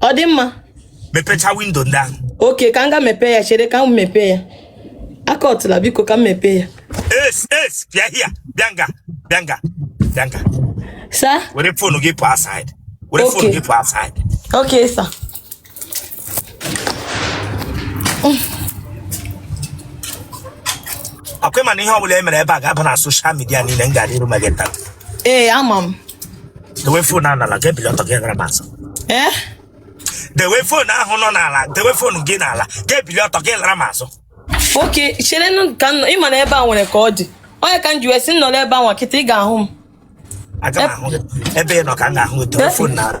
ọ dị mma mepecha window ndị ahụ okay ka m ga mepee ya chere ka m mepee ya akọtụla biko ka m mepee ya yes yes bịa here bịa nga bịa nga bịa nga sir were phone gị pụa outside were phone gị pụa outside okay sir akwa ị ma na ihe ọbụla e mere ebe a ga-aba na social media niile m gara iru ma gị taa ee ama m dewe phone ahụ n'ala gị ebili ọtọ gị gara m azụ ee dewe phone ahụ nọ n'ala dewe phone gị n'ala gị ebili ọtọ gị lara m azụ okay cherenụ ka m nọ ị ma na ebe a nwere ka ọ dị ọ nya ka m ji wee sị m nọrọ ebe a nwa kịta ị ga-ahụ m aga m ahụ gị ebe ị nọ ka m ga-ahụ gị dewe phone n'ala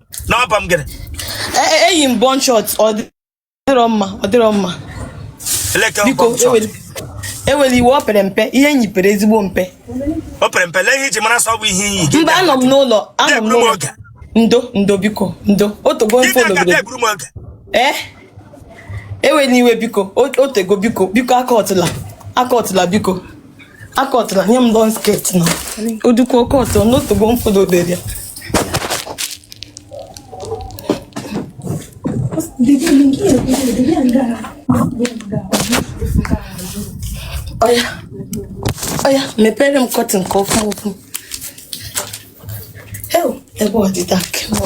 n'ọba m gịnị E- e- eyi m bum short ọ dị- ọ dịrọ mma ọ dịrọ mma eleke biko ọgbọ m chọrọ. eweli- eweli iwe ọ pere mpe ihe m yi pere ezigbo mpe o pere mpe lee ihe i ji mara sị ọ bụ ihe iyi gị mba anọ m n'ụlọ anọ m Deburu m n'ụlọ oge. ndo ndo biko ndo otego m followbere ka eburu m oge ee eweli iwe biko o- otego biko biko akọtụla akọtụla biko akọtara nye m don sket na odukwu oke ọtọ n'otogbo m fọdụbere ya ọya ọya mepere m kọtịn ka ọfụ ọfụ ew ebe ọdịda kemọ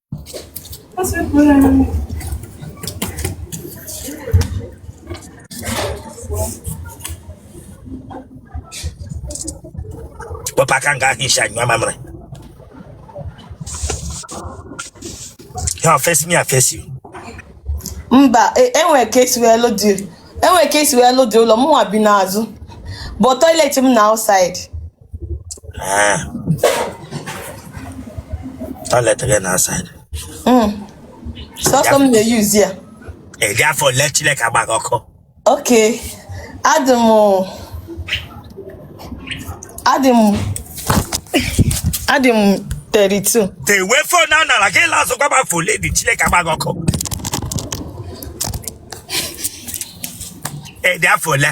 Papa ka m ga hichaa anya mmiri. You face me, I face you. Mba, enwere ka esi wee lụ the enwere ka esi wee lụ the ụlọ mụnwa bi n'azụ but toilet m na outside Eh. Toilet gị na outside. Mm. Sọsọ m na-eyuzi ya. Ị dị afọ ole Chineke agba gị ọkụ? Okay. Adị m adị m adị m 32. Dewe phone n'ala gị laa azụ gwa m afọ ole ị dị Chineke agba gị ọkụ. Ị dị afọ ole?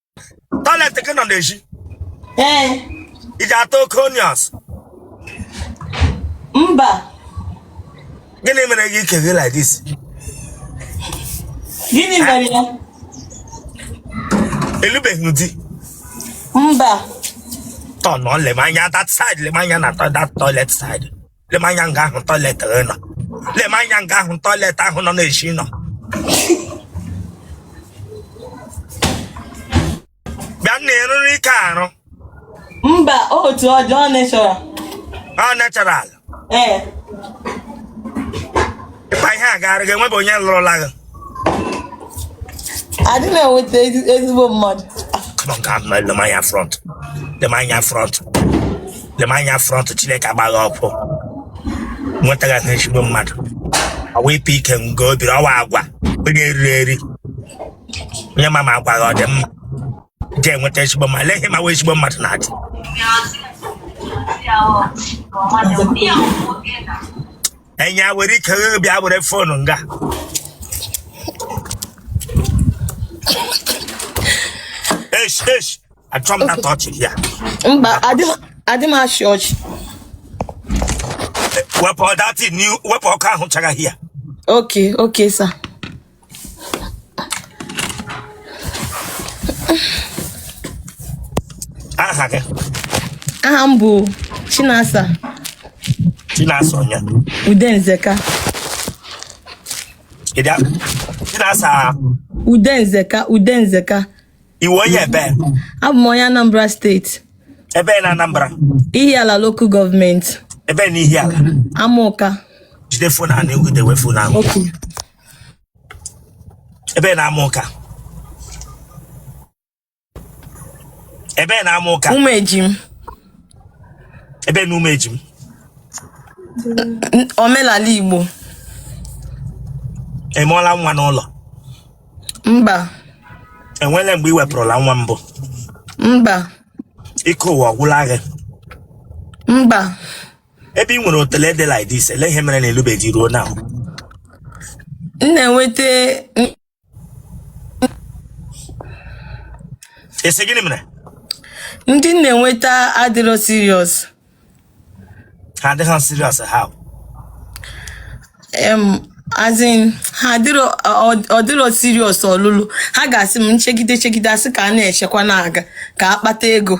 Toilet gị nọ n'ezi. Ee. Ị ji ata oke onions. Mba. Gịnị mere gị ike gị like this? Gịnị mere ya? Ị lụbeghị di? Mba. Turnụọ lee m anya that side lee m anya na that toilet side. lemanya nga ahụ toilet gị nọ lemanya nga ahụ toilet ahụ nọ na-esi nọ bịa na ị rụrụ ike arụ mba otu ọ dị ọ natural ọ natural ee ịkpa ihe a gaara gị enwebe onye lụrụla gị adị m enweta ezi- ezigbo mmadụ Come on, God, man, lema anya front. Lema anya front. Lema anya front. Chineke agba gị ọkụ. Nwetaghị ezigbo mmadụ. Ọ wa ịpụ ike nga o biri ọ wụ agwa. Onye eriri eri. Onye ma ma agwa gị ọ dị mma. Je enweta ezigbo mmadụ. Lee ihe ma wee ezigbo mmadụ na-adị. Nze- enya were ike bịa were fonu nga esh esh achọ m na torch ya mba adị m achị ọchị wepụ ọdatị wepụ ọkụ ahụ chara ya okay okay sir aha gị aha m bụ chinasa chinasa onye udenzeka chinasa udenzeka udenzeka ị wụ onye ebe abụ m onye anambra state ebe na anambra ihiala local government ebe na ihiala amọka jide phone a na-egwudewe phone ahụ ebe na amọka ebe na amọka ụmụejim ebe na ụmụejim N- omelala igbo ị mụọla nwa n'ụlọ mba e nwele mgbe ị wepụrụla nwa mbụ mba ike ụwa ọgwụla gị mba ebe ị nwere otele dị like this ele ihe mere na ị lụbeghị ruo now m na-enweta m- ị sị gịnị mere ndị m na-enweta adịrọ serious ha adịghị serious how em as in ha adịrọ ọ- ọ dịrọ serious ọlụlụ ha ga-asị m nchegide chegide a sị ka a na-echekwa na-aga ka a kpata ego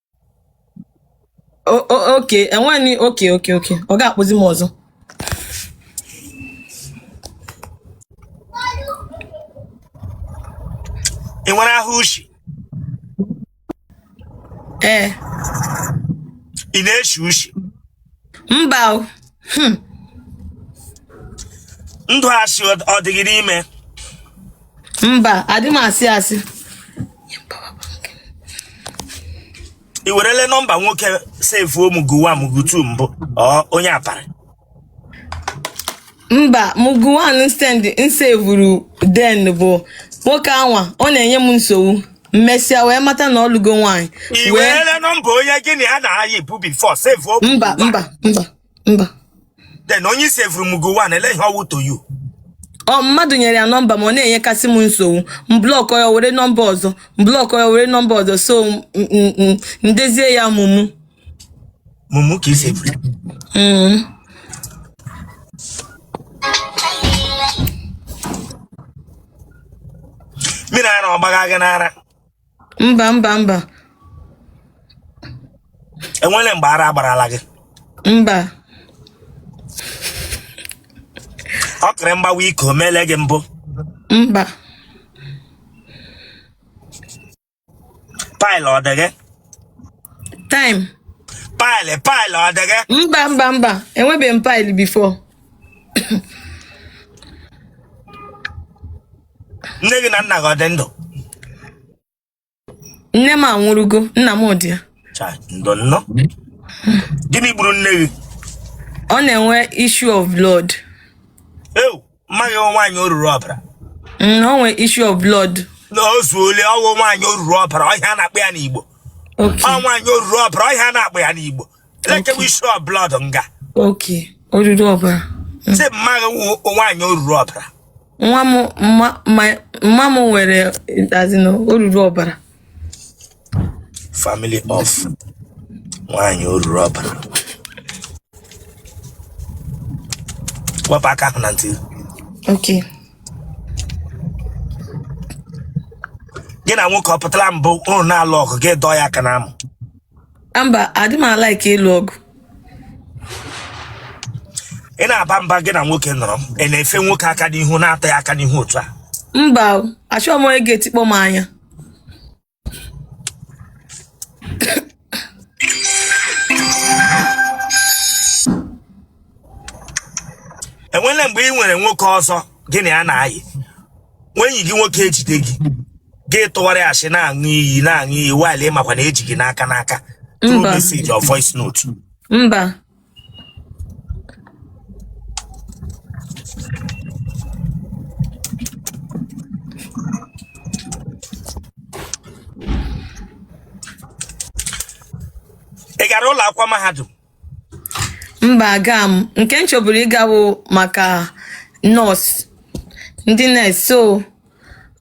O- o- okay enweni okay okay okay ọ ga-akpụzi m ọzọ ị nwere ahụ ushi ee ị na-eshi ushi mba o. Hmm. ndụ asị ọ ọ dị gị n'ime mba adị m asị asị i werele nọmba nwoke sevuo mugu one mugu two mbụ ọ onye aparị mba mugu one stand m sevuru then bụ nwoke anwa ọ na-enye m nsogbu m mesịa wee mata na ọ lụgo nwaanyị i werele nọmba onye gị na ya na-ayịbu before sevuo okwu mba mba mba mba then onye i sevuru mugu one ele ihe ọ wụ to you ọ mmadụ nyere ya nọmba ma ọ na-enyekasị m nsogbu m blọkọ ya were nọmba ọzọ m blọkọ ya were nọmba ọzọ so m- m- m- m dezie ya mumu mumu ka i sevuru Mm. mmiri ara ọ gbaga gị n'ara mba mba mba enwere mgbe ara gbarala gị mba okiri mgbawa ike o meele gị mbụ mba pile ọ dị gị time pile pile ọ dị gị mba mba mba enwebeghị m pile before nne gị na nna gị ọ dị ndụ nne m anwụrụgo nna m dị ya Chai, ndo nnọọ gịnị gburu nne gị ọ na-enwe issue of blood ewu mma gị nwaanyị oruru ọbara Mm, o nwere issue of blood na o zuole ọ wụ nwaanyị oruru ọbara ọ ihe a na-akpọ ya n'Igbo okay ọ nwaanyị oruru ọbara ọ ihe a na-akpọ ya n'Igbo elekewe issue of blood nga okay oruru ọbara sị mma gị nwa- nwaanyị oruru ọbara nwa m mma- my- mma m nwere as in oruru ọbara Family of nwaanyị oruru ọbara wepụ aka ahụ na ntị Okay. gị na nwoke ọ pụtara mbụ unu na-alụ ọgụ gị dọọ ya aka n'amụ mba adị m alike ịlụ ọgụ ị na-aba mba gị na nwoke nọrọ ị na-efe nwoke aka n'ihu na-atụ ya aka n'ihu otu a mba o, achọghị m onye ga-etikpọ m anya enwele mgbe ị nwere nwoke ọzọ gị na ya na-ayị nwa enyi gị nwoke ejide gị gị tụwara asị na-aṅụ iyi na-aṅụ iyi while ị makwa na e ji gị n'aka n'aka through Mba. message or voice note mba ị gara ụlọ akwụkwọ mahadum mba aga m nke m chọburu ịga wụ maka nọọsụ ndị nọọsụ so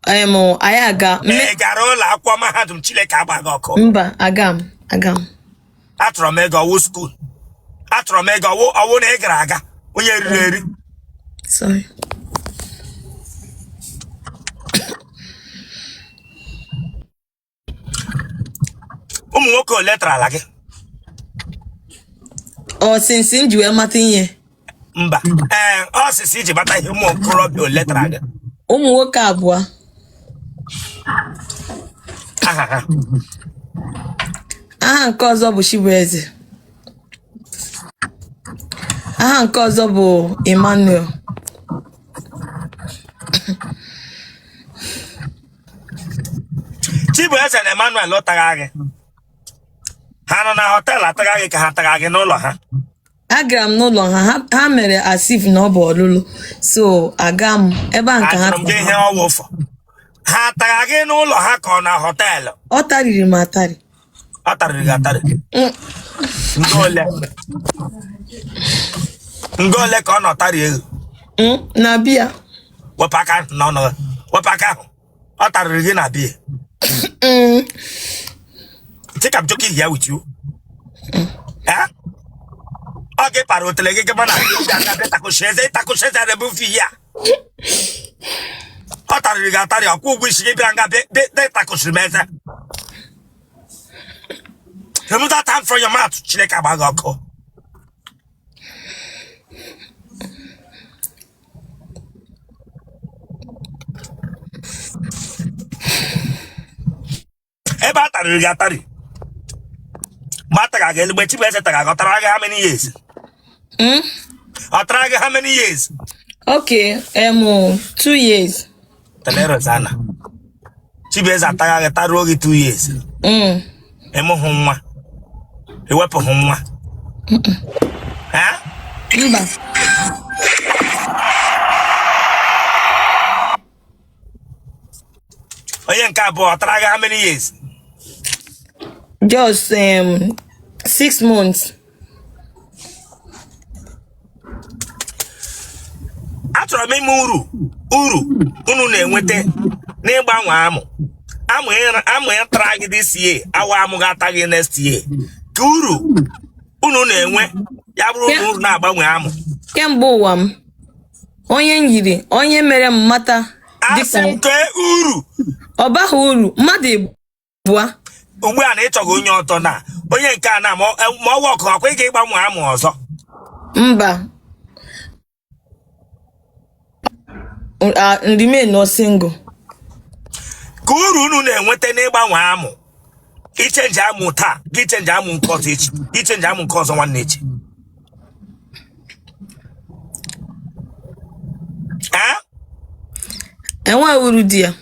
em anyị aga mme- ị gara ụlọ akwụkwọ mahadum chineke agba gị ọkụ mba aga m aga m atụrụ m ego ọ wụ skuul atụrụ m ego ọ wụ ọ wụ na ị gara aga onye riri eri sorry ụmụ nwoke ole tarala gị ọ since m ji wee mata ihe mba ee ọ since i ji mata ihe ụmụ okorobịa ole tara gị ụmụ nwoke abụọ aha ha aha nke ọzọ bụ Chibueze aha nke ọzọ bụ Emmanuel Chibueze na Emmanuel ọ tara gị ha nọ na họteelụ atara gị ka ha tara gị n'ụlọ ha agara m n'ụlọ ha ha- ha mere as if na ọ bụ ọlụlụ so aga m ebe a nke ha ajụrụ m gị ihe ọwụfọ ha tara gị n'ụlọ ha ka ọ na họteelụ ọ tariri m atari ọ tarịrị gị atarị nga ole nga ole ka ọ nọ tarị gị Mm, na be ya wepụ aka ahụ n'ọnụ gị wepụ aka ahụ ọ tarịrị gị na be ya Mm, Think I'm joking here with you? Eh? Ọ gị para otele gị gaba na takọshie eze takọshie eze rebufi ya ọ tarịrị gị atarị ọ kwụ ụgwọ isi gị bịara nga dị atakọsi m eze remove that hand from your mouth chineke agba gị ọkụ ebe a tarịrị gị atarị ma a tara gị eluigwe Chibueze tara gị ọ tara gị how many years Mm? ọ tara gị how many years Okay, um, oh, two years. tolerance ana Chibueze ataa gị taruo gị two years Mm. ị mụhụ nwa i wepụhụ nwa Ha? Mba. onye nke abụọ ọ tara gị how many years just um, six months achọrọ m ịma uru uru unu na-enweta n'ịgbanwe amụ amụ ịra- amụ tara gị this year awụ amụ ga-ata gị next year ka uru unu na-enwe ya bụrụ na unu na-agbanwe amụ kemgbe ụwa m onye m yiri onye mere m mata asị m dịka kee uru ọ baghị uru mmadụ ịbịa ugbu a na ịchọghị onye ọtọ na onye nke a na ma ọ- ma ọwa ọkụ ọkwa ị ga ịgbanwe amụ ọzọ mba remain nụ single ka uru unu na-enweta n'ịgbanwe amụ ichenji amụ taa gị chenji amụ nke ọzọ echi ichenji amụ nke ọzọ nwanne echi enwe uru dị ya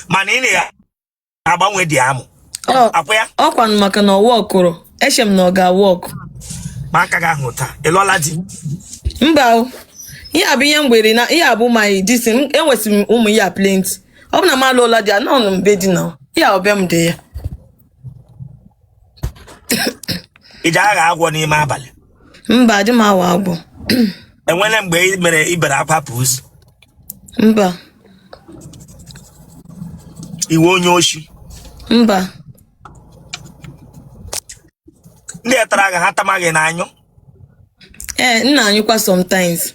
mana ị na-agbanwe di amụ ọkwa ya ọkwanụ maka na ọwa ọkụrụ eche m na ọ ga-awa ọkụ ma aka gị ahụ taa ịlụọla di mba ihe a bụ ihe mgbere na ihe a bụ my dis enwesịrị m ụmụ ya plenty ọ bụ na m alụọla di anọnụ m be di na ya ọbịa m dị ya iji agha agwọ n'ime abalị mba adị m awa agwọ enwere mgbe ị mere ị bere akwa pụzi mba ị wụ onye oshi mba ndị etara gị ha tamaghị na-anyụ ee m na-anyụkwa sometimes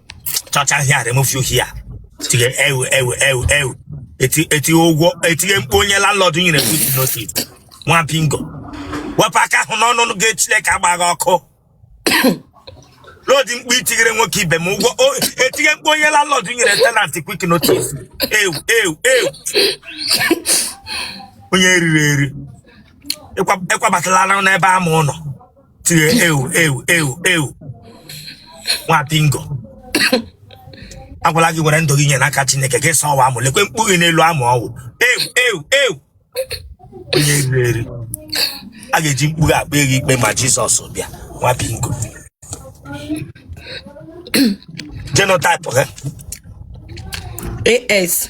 chọcha hia remove you here tie ewu ewu ewu ewu Eti- etinye ụgwọ etie mkpu onye landlord nyere quick notice nwa bingo wepụ aka ahụ n'ọnụ gị chineke agba gị ọkụ lodi mkpu itinyere nwoke ibe m ụgwọ o- etie mkpu onye landlord nyere tenant quick notice ewu ewu ewu onye eriri eri ịkwa- ịkwabatala n'ebe ama ụlọ tiri ewu ewu ewu ewu nwa bingo agwala gị were ndụ gị nye n'aka chineke gị sowa amụ lekwe mkpu gị n'elu amụ ọwụ ewu ewu ewu onye eriri eri a ga-eji mkpu gị ekpe gị ikpe ma jizọs bịa nwa bingo genotype gị AS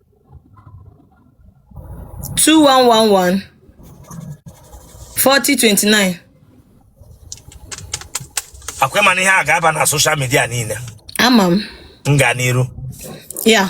two one one one forty twenty nine. ọkwa ị ma na ihe a ga-aba na social media niile ama m m gaa n'iru ya